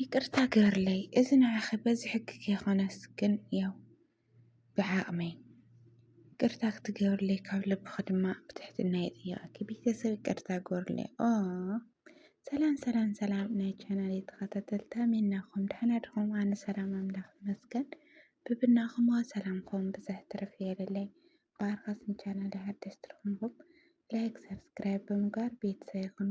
ይቅርታ ግበርለይ እዚ ንዓኺ በዚ ሕጊ ከይኮነስ ግን ያው ብዓቕመይ ይቅርታ ክትገብርለይ ካብ ልብኺ ድማ ብትሕትና ይጥይቐኪ ቤተሰብ ይቅርታ ግበርለይ ኦ ሰላም ሰላም ሰላም ናይ ቻናል ተኸታተልታ ሜናኹም ድሓና ድኹም ኣነ ሰላም ኣምላኽ ይመስገን ብብናኹም ሰላምኩም ብዛሕ ትርፍ የለለይ ብኣርኻስን ቻናል ሓደስቲ ትርኹምኹም ላይክ ሰብስክራይብ ብምግባር ቤተሰብ ይኹኑ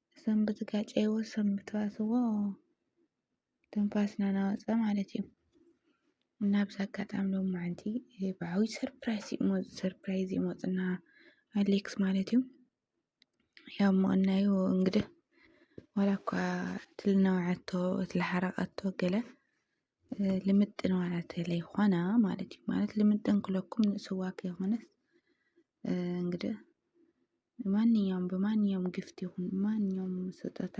እዞም ብዝጋጨይዎ ሰብ ምትባስዎ ትንፋስና ናወፀ ማለት እዩ እና ብዛ ኣጋጣሚ ሎማዓንቲ ብዓብይ ሰርፕራይዝ ሰርፕራይዝ እዩ መፁና ኣሌክስ ማለት እዩ ያው ምቕናዩ እንግዲህ ዋላ እኳ እቲ ልነውዓቶ እቲ ልሓረቐቶ ገለ ልምጥን ማለት ለይኾነ ማለት እዩ ማለት ልምጥን ክለኩም ንእስዋ ከይኾነስ እንግዲህ ማንኛውም ብማንኛውም ግፍት ይኹን ማንኛውም ስጦታ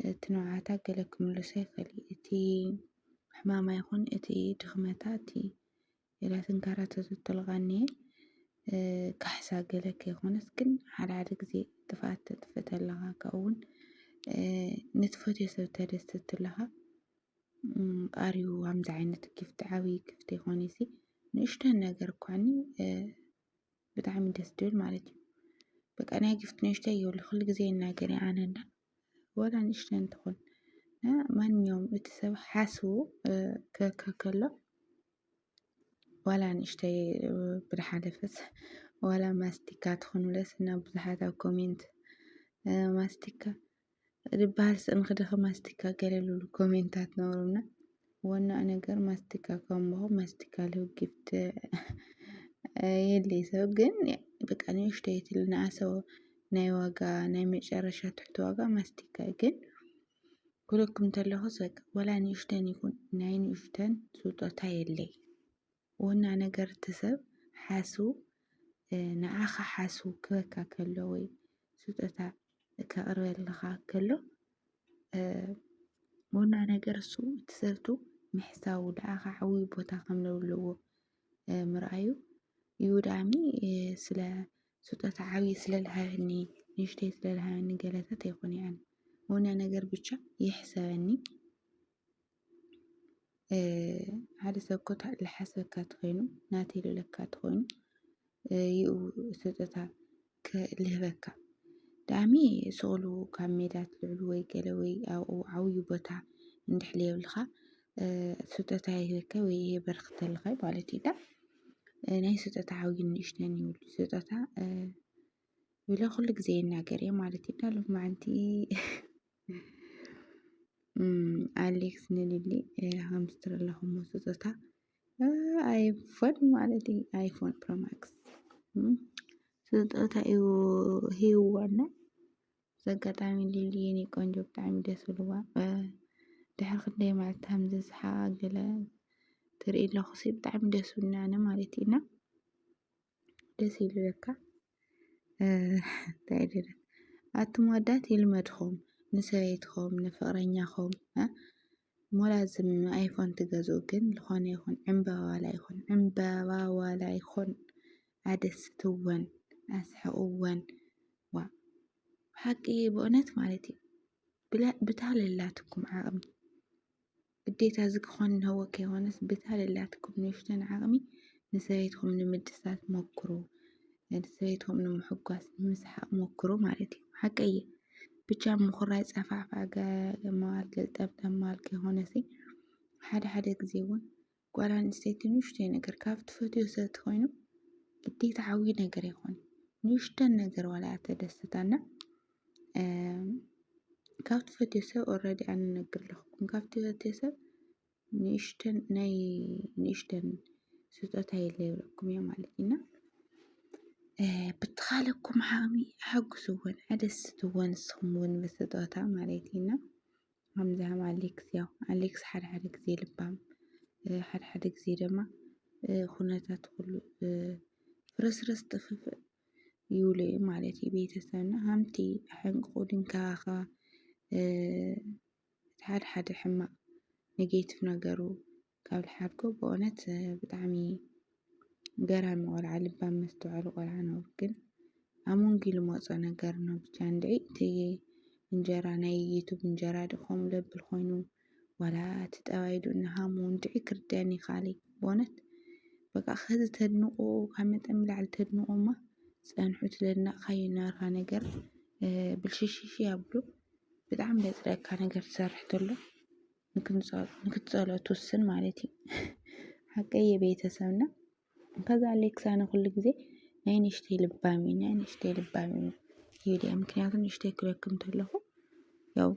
እቲ ንውዓታ ገለ ክምልሶ ይኸል እቲ ሕማማ ይኹን እቲ ድኽመታ እቲ ኢላ ትንከራተቶ ትልቃ እኒሀ። ካሕሳ ገለ ከይኮነስ ግን ሓደ ሓደ ግዜ ጥፍኣት ተጥፍእ ተለኻ ካብኡ እውን ንትፈትዮ ሰብ ተደስት ተለኻ ኣር ዩ ከምዚ ዓይነት ጊፍቲ ዓብዪ ጊፍቲ ኣይኮነይሲ ንእሽተን ነገር እኳ እኒ ብጣዕሚ ደስ ድብል ማለት እዩ። በቃ ናይ ጊፍቲ ንእሽተይ የብሉ ኩሉ ግዜ ይናገር እዩ ኣነ እንዳ ዋላ ንእሽተይ እንትኹን ማንኛውም እቲ ሰብ ሓስቡ ክህከብ ከሎ ዋላ ንእሽተይ ብድሓለፈስ ዋላ ማስቲካ ትኹን ብለስ እና ብዙሓት ኣብ ኮሜንት ማስቲካ ዝበሃል ስእሚ ክደኺ ማስቲካ ገለሉሉ ኮሜንታት ነበሩና ዋናኡ ነገር ማስቲካ ካምባሆ ማስቲካ ሊሆ ጊፍት የድልይ ሰብ ግን በቃ ንእሽተይ ትል ንኣሰው ናይ ዋጋ ናይ መጨረሻ ትሕቲ ዋጋ ማስቲካ እዩ ግን ኩለኩም ተለኹስ በቃ ወላ ንእሽተን ይኹን ናይ ንእሽተን ስጦታ የለይ ወና ነገር እቲ ሰብ ሓሱ ንዓኻ ሓሱ ክበካ ከሎ ወይ ስጦታ ከቕርበልኻ ከሎ ወና ነገር እሱ እቲ ሰብቱ ምሕሳዉ ንዓኻ ዓብዪ ቦታ ከም ዘለዎ ምርኣዩ እዩ ዳኣሚ ስለ ስጦታ ዓብዪ ስለ ዝሃበኒ ንእሽተይ ስለ ዝሃበኒ ገለታት ኣይኮነን ወና ነገር ብቻ ይሕሰበኒ ሓደ ሰብ እኮ ልሓስበካ እንተኾይኑ ናተይ ልብለካ እንተኾይኑ ይኡ ስጦታ ልህበካ ዳኣሚ ስቅ እሉ ካብ ሜዳ ትልዕሉ ወይ ገለ ወይ ኣብኡ ዓብዩ ቦታ እንድሕር ልየብልካ ስጦታ ይህበካ ወይ የበርክተልካ ማለት እዩ። ናይ ስጦታ ዓብዩን ንእሽተይን ይብሉ ስጦታ ኢለ ኩሉ ግዜ ይናገር እየ ማለት እዩ። ዳሎም መዓንቲ ኣሌክስ ንሊሊ ሃምስትር ኣለኹም ስጦታ ኣይፎን ማለት እዩ ኣይፎን ፕሮማክስ ስጦታ እዩ ሂወና ዘጋጣሚ ሊሊ የኔ ቆንጆ ብጣዕሚ ደስ ብልዋ ድሕሪ ክንደይ መዓልቲ ከምዚ ዝሓገለ ትርኢ ኣለኹ ሲ ብጣዕሚ ደስ ብልናኒ ማለት እዩና ደስ ይልበካ እንታይ ድረ ኣቱም ኣዳት ይልመድኹም ንሰበይትኹም ንፍቕረኛኹም ሞላዝም ኣይፎን ትገዝኡ ግን ዝኾነ ይኹን ዕምበባ ዋላ ይኹን ዕምበባ ዋላ ይኹን ኣደስትወን ኣስሕቕወን ዋ ሓቂ በእውነት ማለት እዩ ብታለላትኩም ዓቕሚ ግዴታ እዚ ክኾን እንሀዎ ከይኾነስ ብታ ለላትኩም ንኡሽተን ዓቕሚ ንሰበይትኹም ንምድሳት ሞክሩ፣ ንሰበይትኹም ንምሕጓስ ንምስሓቕ ሞክሩ ማለት እዩ። ሓቂ እየ ብቻ ምኹራይ ፃፋዕፋዕ ገ- መዋል ገልጠምጠም መዋል ከይኾነሲ ሓደ ሓደ ግዜ እውን ጓል ኣንስተይቲ ንኡሽተይ ነገር ካብ ትፈትዮ ሰብ ተኾይኑ ግዴታ ዓብዪ ነገር ኣይኮነ ንኡሽተን ነገር ዋላ እያ ተደስታና ካብ ትፈትዮ ሰብ ኦልሬዲ ኣነ ነግር ኣለኹኩም ካብ ትፈትዮ ሰብ ንእሽተን ናይ ንእሽተን ስጦታ የለ ይብለኩም እየ ማለት እዩ እና ብትኻለኩም ዓቕሚ ሓግዝወን ኣደስትወን ንስኹም እውን ብስጦታ ማለት እዩ እና ሃምዛም ኣሌክስ ያው ኣሌክስ ሓደ ሓደ ግዜ ልባም ሓደ ሓደ ግዜ ድማ ኩነታት ኩሉ ፍርስርስ ጥፍፍእ ይብሉ እዮም ማለት እዩ። ቤተሰብና ሃምቲ ኣሕንቅቑ ድንከባኸባ እቲ ሓደ ሓደ ሕማቕ ኔጌቲቭ ነገሩ ካብ ልሓድጎ ብእውነት ብጣዕሚ ገራሚ ቆልዓ ልባም መስተውዐሊ ቆልዓ ነውር ግን ኣብ መንጉ ልመፆ ነገር ነው ብቻ እንድዒ እቲ እንጀራ ናይ ዩቱብ እንጀራ ድ ከምኡ ለብል ኮይኑ ዋላ እቲ ጠባይ ዱ እናሃሙ እንድዒ ክርደን ይካለይ ብእውነት በቃ ከዚ ተድንቆ ካብ መጠን ብላዕሊ ተድንቆ እማ ፀንሑ እቲ ለድናቕካዮ ናርካ ነገር ብልሽሽሽ ኣብሉ ብጣዕሚ ለፅለካ ነገር ትሰርሕ ተሎ ንክትፀሎ ትውስን ማለት እዩ። ሓቀይ የቤተሰብ እና ከዛ ኣሌክሳ ንኩሉ ግዜ ናይ ንእሽተይ ልባም እዩ ናይ ንእሽተይ ልባም እዩ ይብል እየ ምክንያቱ ንእሽተይ ክበኪ እንተለኹ ያው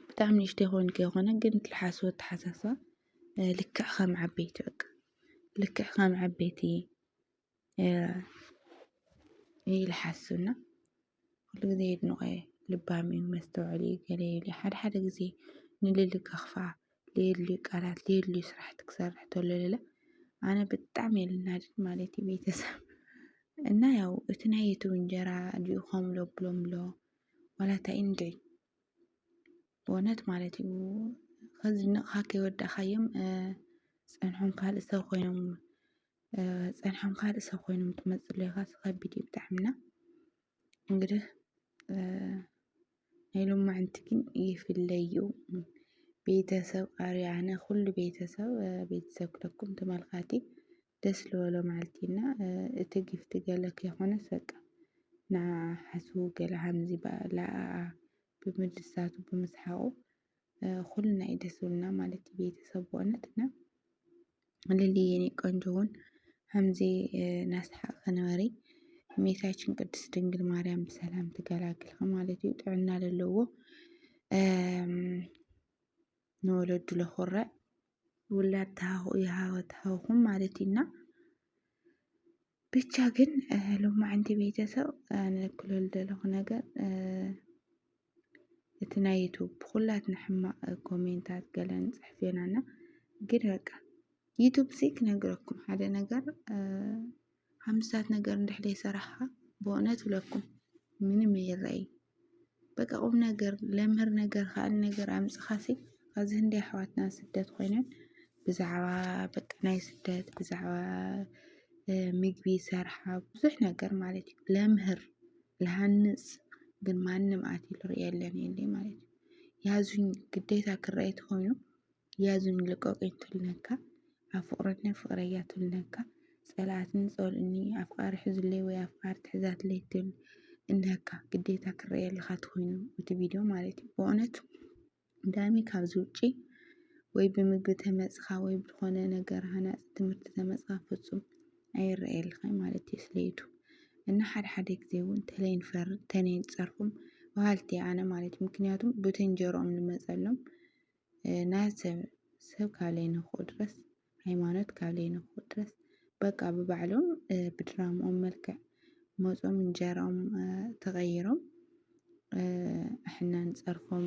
ብጣዕሚ ንእሽተይ ኮንኪ ኣይኮነ ግን ትልሓስቦ ኣተሓሳስባ ልክዕ ከም ዓበይቲ በቃ ልክዕ ከም ዓበይቲ ኢለ ሓስብ እና ኩሉ ግዜ የድንቆ እየ ልባም እዩ መስተውዐሊ እዩ ገለ እዩ ኢለ ሓደ ሓደ ግዜ ንልሊ ከኽፋ ዘየድልዩ ቃላት ዘየድልዩ ስራሕቲ ክሰርሕ ተሎ ለለ ኣነ ብጣዕሚ እየ ልናደድ ማለት እዩ ቤተሰብ እና ያው እቲ ናይ ዩቱብ እንጀራ ድዩ ከምሎ ብሎምሎ ዋላ እንታይ እዩ እንድዒ ብእውነት ማለት እዩ ከዝንቕኻ ከይወዳእካዮም ፀንሖም ካልእ ሰብ ኮይኖም ጸኒሖም ካልእ ሰብ ኮይኖም ትመጽእ ሌኻ ከቢድ እዩ ብጣዕሚ እና እንግዲህ ናይ ሎማዓንቲ ግን ይፍለዩ ቤተሰብ ኣርያነ ኩሉ ቤተሰብ ቤተሰብ ክለኩም ተመልካቲ ደስ ዝበሎ መዓልቲ እና እቲ ጊፍቲ ገለ ከይኮነስ በቃ ንዓዓ ሓስቡ ገለ ሃምዚ በኣላ ኣኣ ብምድሳቱ ብምስሓቑ ሁልና እዩ ደስ ዝብልና ማለት እዩ ቤተሰብ በእውነት እና ልሊ የኔ ቆንጆ እውን ከምዚ ናስሓቅ ንበሪ እመቤታችን ቅድስት ድንግል ማርያም ብሰላም ትገላግልኪ ማለት እዩ ጥዕና ለለዎ ንወለዱ ለኹረዕ ውላድ ተሃኹ ይሃወ ተሃውኹም ማለት እዩና ብቻ ግን ሎማዕንቲ ቤተሰብ ንክልል ዘለኹ ነገር እቲ ናይ ዩቱብ ብኩላትና ሕማቅ ኮሜንታት ገለ ንፅሕፍ ኢና እና ግን በቃ ዩቱብ ሲ ክነግረኩም ሓደ ነገር ሓምስታት ነገር እንድሕደ ይሰራሕኻ ብእውነት ብለኩም ምንም የረይ በቃ ቁም ነገር ለምህር ነገር ኻል ነገር ኣምጽኻሲ ኣዚ ህንዲ ኣሕዋትና ስደት ኮይነን ብዛዕባ በቃ ናይ ስደት ብዛዕባ ምግቢ ሰርሓ ብዙሕ ነገር ማለት እዩ ለምህር ልሃንጽ ግን ማንም ኣትዩ ልርእየለን የለይ ማለት እዩ። ያዙኝ ግዴታ ክረአይ ተኾይኑ ያዙኒ ልቀቁኝ ትብለካ ኣብ ፍቅረኛ ፍቅረያ ትብለካ ፀላኣትኒ ፀሉኡኒ ኣፍቃሪ ሕዙለይ ወይ ኣፍቃሪት ሕዛትለይ ትብል እነካ ግዴታ ክረኣየልካ ትኮይኑ እቲ ቪድዮ ማለት እዩ በእውነት ዳኒ ካብዚ ውጪ ወይ ብምግቢ ተመፅካ ወይ ብዝኮነ ነገር ሃናፂ ትምህርቲ ተመፅካ ፍፁም ኣይረኣየልካን ማለት እዩ ስለ ዩቱብ እና ሓደ ሓደ ግዜ እውን ተለይ ንፈርድ ተለይ ንፀርፎም በሃልቲ እየ ኣነ ማለት እዩ ምክንያቱም በተንጀርኦም ንመፀሎም ናይ ሰብ ሰብ ካብ ለይነክኡ ድረስ ሃይማኖት ካብ ለይነክኡ ድረስ በቃ ብባዕሎም ብድራምኦም መልክዕ መጾም እንጀራኦም ተቐይሮም ኣሕና ንጸርፎም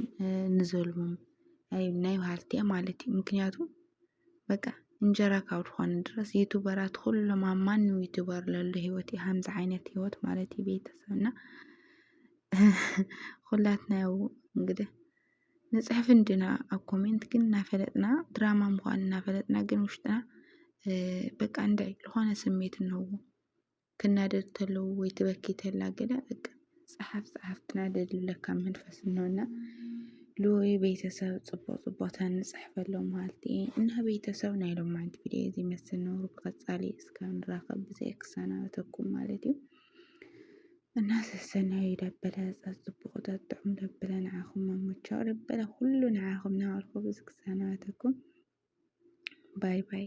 ንዘልሞም ኣይ ናይ በሃልቲ እያ ማለት እዩ። ምክንያቱ በቃ እንጀራ ካብ ዝኾነ ድረስ ዩቱበራት ኩሎም ኣብ ማንም ዩቱበር ለሎ ህይወት እዩ ከምዚ ዓይነት ህይወት ማለት እዩ ቤተሰብና ኩላትና ያው እንግዲህ ንጽሕፍ እንድና ኣብ ኮሜንት ግን እናፈለጥና ድራማ ምዃን እናፈለጥና ግን ውሽጥና በቃ እንድዒ ዝኾነ ስሜት እነዎ ክናደድ ተለዉ ወይ ትበኪ ተላ ገለ በቃ ጸሓፍ ጸሓፍ ትናደድ ለካ መንፈስ እነሆና ልወይ ቤተሰብ ጽቡቅ ጽቡቅ ተንጽሕፈሎ መሃልቲ እና ቤተሰብ ናይ ሎማንቲ ቪድዮ እዚ መስል ነውሩ ብቀጻሊ እስካብ ንራኸብ ብዘይ ክሰናበተኩም ማለት እዩ እና ሰሰናዩ ደበለ ጸጽቡቑ ጠጥዑም ደበለ ንዓኹም መሞቻው ደበለ ኩሉ ንዓኹም ናበልኩ ብዚ ክሰናበተኩም ባይ ባይ።